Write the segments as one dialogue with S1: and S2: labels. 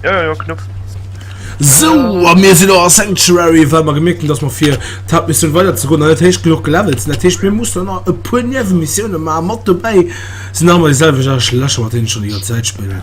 S1: Ja, ja, ja, Knopf. So,
S2: a mir sinn a Sanctuary, well mer gemerkt hunn, dass mer fir d'Hauptmissioun weider ze goen, an dat heescht genug gelevelt sinn. Dat heescht, mir mussen nach e puer Niewemissioune maachen. Mat dobäi sinn awer déi selwecht Arschlächer, mat deenen ech schon déi ganz Zäit spillen.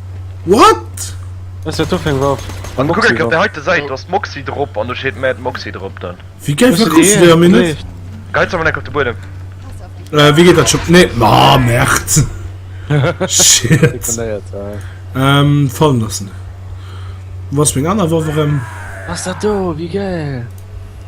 S3: What?
S1: Wéi géif dat kucks wéi
S2: a mir net?
S1: Wéi
S2: geet dat Schëpp? Nee, ma merd! Shit! Fallen loossen. Wou ass meng aner Woff erëm?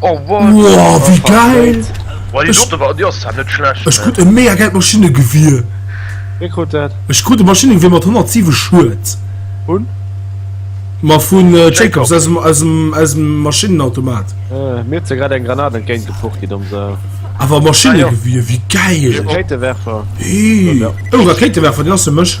S3: Oh wow,
S1: wie geil! Ech krut e mega geilt
S2: Maschinnegewier. Wee krut dat?
S3: Ech krut e Maschinnegewier
S2: mat 107 Schued. Vun?
S3: Ma
S2: vun Jacobs, aus dem Maschinenautomat. Mir huet se
S3: grad eng Granat entgéint gepucht kritt am Sall. Awer e Maschinnegewier,
S2: wéi geil! Rakéitewerfer. Hii, oh Rakéitewerfer, deen ass fir mech.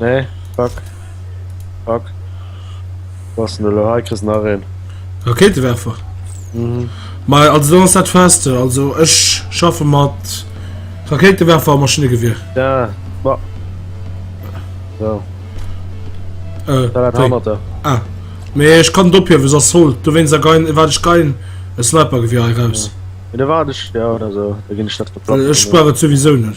S3: Nee, fuck. Fuck. Wou ass den elo? Hei kriss nach een. Rakéitewerfer?
S2: Mhm.
S3: Ma also dann
S2: ass dat fest. Also ech schaffe mat Rakéitewerfer a Maschinnegewier. Ja, ma.
S3: So. Äh, Da dat wéi? Hammerter. Ah. Mee
S2: ech kann dophiewe ass holl. Du wéins a gein wat ech gein e Snipergewier hei raus. Mee da waart ech,
S3: ja, oder esou. Da ginn ech dat Äh, verplanzen. ech brauch et souwisou
S2: net.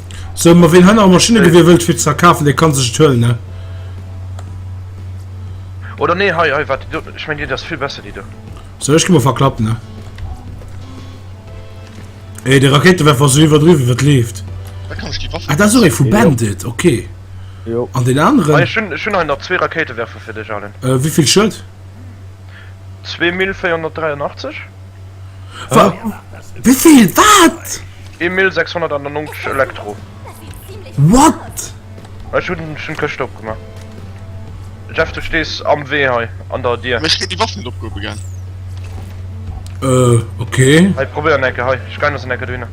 S1: So, ma
S2: ween hei am Maschinnegewir wëllt fir ze verkafen, dee kann sech et huelen, ne?
S1: Oder nee, hei, hei, wat déi do, ech meng déi do ass vill besser, déi do. So, ech gi mol verklappen,
S2: ne? Ey, de Rakéitewerfer ass esou iwwerdriwwen, wéi et leeft. Da kann ech déi Waff.
S4: Ah, dat ass och ee vu Bandit,
S2: okay. Jo. An deen
S3: aneren? Hei, ech
S2: hunn, ech hunn hei nach zwee
S1: Rakéitewerfer fir dech, Alan. Wéi vill Schued? 2483.
S2: Wéivill? Wat? 1690
S1: Elektro.
S2: What?
S1: Ech hunn schon d'Këscht opgemaach. Jeff, du stees am Wee hei an der Dier. Ech gétt déi Waff net opgehobe
S4: gell? Äh,
S2: okay. Hei, probéier en Ecke hei.
S1: Ech geien der se en Ecke dohinner.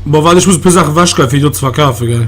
S1: Bon,
S2: wat? Ech muss e puer Saache wechgeien, fir déi do ze verkafe gell?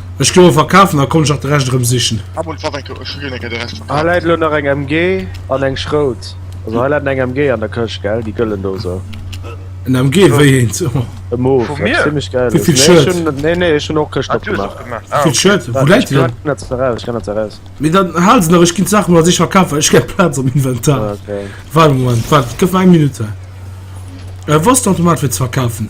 S1: Ech goe
S2: verkafen, da konnt ech nach de Rescht erëm sichen.
S4: Hei läit elo nach eng
S3: MG an eng Schrout. Also hei läit eng MG an der Këscht, gell? Déi gëllen do esou. En MG?
S2: Wéi eent? E Move,
S3: wat zimmlech
S1: gäil
S3: ass.
S1: Nee,
S3: ech hunn, nee,
S2: nee,
S3: ech hunn
S2: och
S3: d'Këscht opgemaach. Wéi vill Shirt?
S1: Wou läit
S2: se
S1: dann?
S2: Ech kann dat eraus, ech
S3: kann
S2: dat
S3: eraus. Mee dann hal se nach,
S2: ech ginn d'Saache mol a sech verkafen, ech kréich Plaz am Inventar. Waart e
S3: Moment, waart,
S2: gëff mer eng Minutt. Wou ass den Automat fir ze verkafen?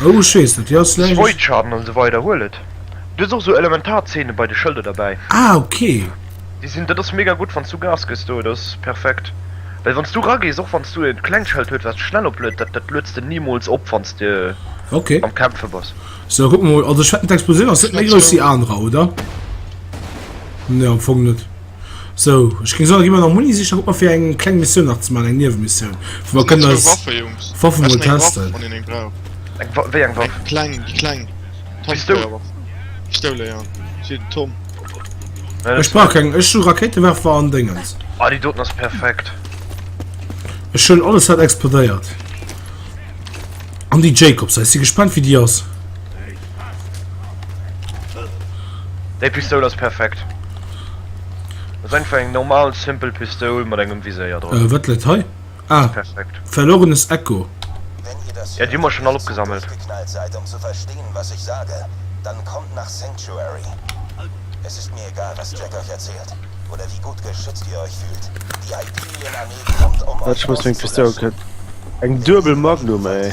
S2: Oh, ech weess net, jo ass vläicht. Voidchaden an esou weider,
S1: huel et. Du hues och esou Elementarzéine bei de Schëlder derbäi. Ah, ok.
S2: Déi sinn, dat ass
S1: mega gutt, wann s du Gas gëss do, dat ass perfekt. Well wann s du eragees, och wann s du e klengt Schëld huet, wat schnell opluet, dat dat luets de nimools op, wann s de am Kämpfe
S2: bass. Ok.
S1: Sou, kucke mol, also ech
S2: wetten d'Explosioun ass net méi grouss wéi anerer, oder? Nee, am Fong net. Sou, ech ging soen, gi mer nach Muni sichen, guck mer fir eng kleng Missioun nach ze man, eng Niewemissioun, wou mer kënnen eis Waffen
S4: mol testen. Eng Waff? Wéi eng Waff?
S1: Eng kleng, déi kleng
S4: Pistoul?
S1: Pistoul,
S4: ja, fir den Tom. Ech
S2: brauch keng, ech hu Rakéitewerfer an Déngens. Ah, déi doten ass
S1: perfekt.
S2: Ech hunn alles wat explodéiert. An déi Jacobs, ech si gespannt wéi déi ass.
S1: Déi Pistoul ass perfekt. Ass einfach eng normal simpel Pistoul mat engem Viséier dran. Äh, wat läit hei?
S2: Ah, perfekt. Verlorenes
S1: Echo.
S5: Ja, déi hu mer schonn all
S1: opgesammelt.
S5: Wat, ech muss meng Pistoul kët. Eng duebel
S3: Magnum, ey.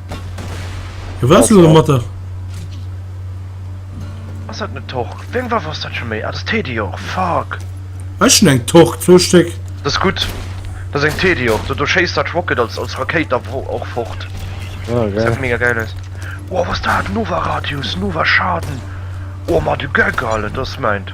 S2: Wou wars du am Mattag?
S1: Ass dat net Torque? Wéi eng Waff ass dat scho méi? Ah, dat ass Tediore, fuck! Ech hunn eng
S2: Torque, zwou Stéck. Dat ass gutt.
S1: Dat ass eng Tediore. Do, do schéisst dat Rocket als, als Rakéit da wo och fort. Ah, Gesäit geil.
S3: mega geil aus.
S1: Wow, was dat? Nova Radius, Nova Schaden. Oh, ma de Geck, Alter, dat ass mäint.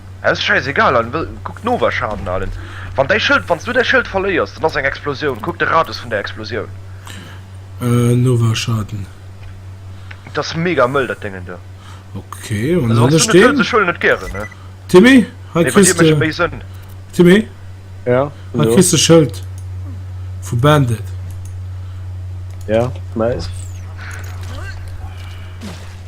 S2: Ass scheiss egal
S1: allen wëll kuck d'Nover Schaden allen wann däi Schëld wanns du däi Schëld verléiers dann ass eng Explosioun kuck de Radius vun der Explosioun.
S2: Nover Schaden.
S1: Et ass mega mëll dat Déngen do. Ok an
S2: Also wanns du net wëlls ech huelen et gären
S1: ne. Timmy hei Nee bei dir
S2: kriss mécht de et méi Sënn.
S1: Timmy Ja,
S2: sinn
S3: hei do. kriss de Schëld
S2: vu Bandit.
S3: Ja, nice.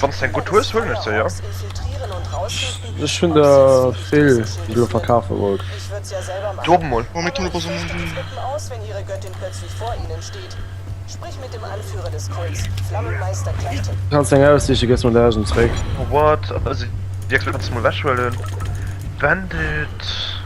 S3: Wann se
S1: eng gutt hues huelen ech se jo.
S3: Ech hunn der vill déi du verkafe wollt. Drop
S1: mol.
S6: Kanns eng aussiche gëss
S3: mer dausend zréck. What?
S1: Wierklech? Kanns mol wech huelen. Bandit.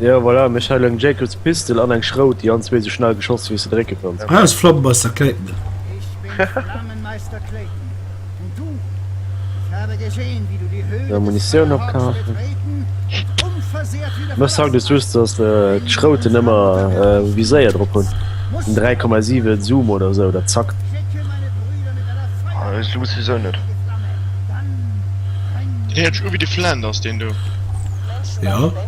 S1: Jo voilà, mech hei leng
S3: Jacobs Pistol an eng Schrout déi an zwee sou schnell geschoss wéis de drécke kanns. Ah ech flamme Meister
S2: Clayton net.
S7: Mol Munitioun
S3: opkafen.
S7: Mech sagt et just dass
S3: d'Schrouten emmer um Viséier drop hun den 3,7 Zoom oder sou dat zackt.
S7: Ah ech soss wisou net.
S4: He'ert sech u wéi de Flanders deen do. Jo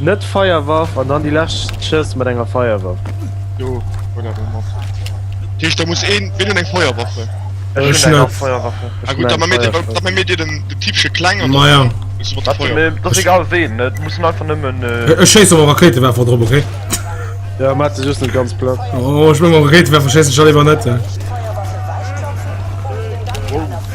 S6: Net
S3: Feierwaff an dann déi lescht Schëss mat enger
S4: Feierwaff.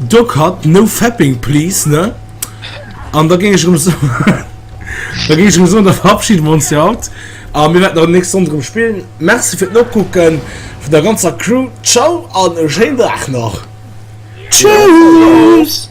S2: Doc Hutt, No fapping please, ne? An da géing ech erëm soen, da géing ech erëm soen, da verabschide mer ons fir haut a mir wäerten nach déi nächst Sonn erëm spillen. Merci fir d'Nokucke vun der ganzer Crew. Ciao an e schéinen Dag nach. Tschüss!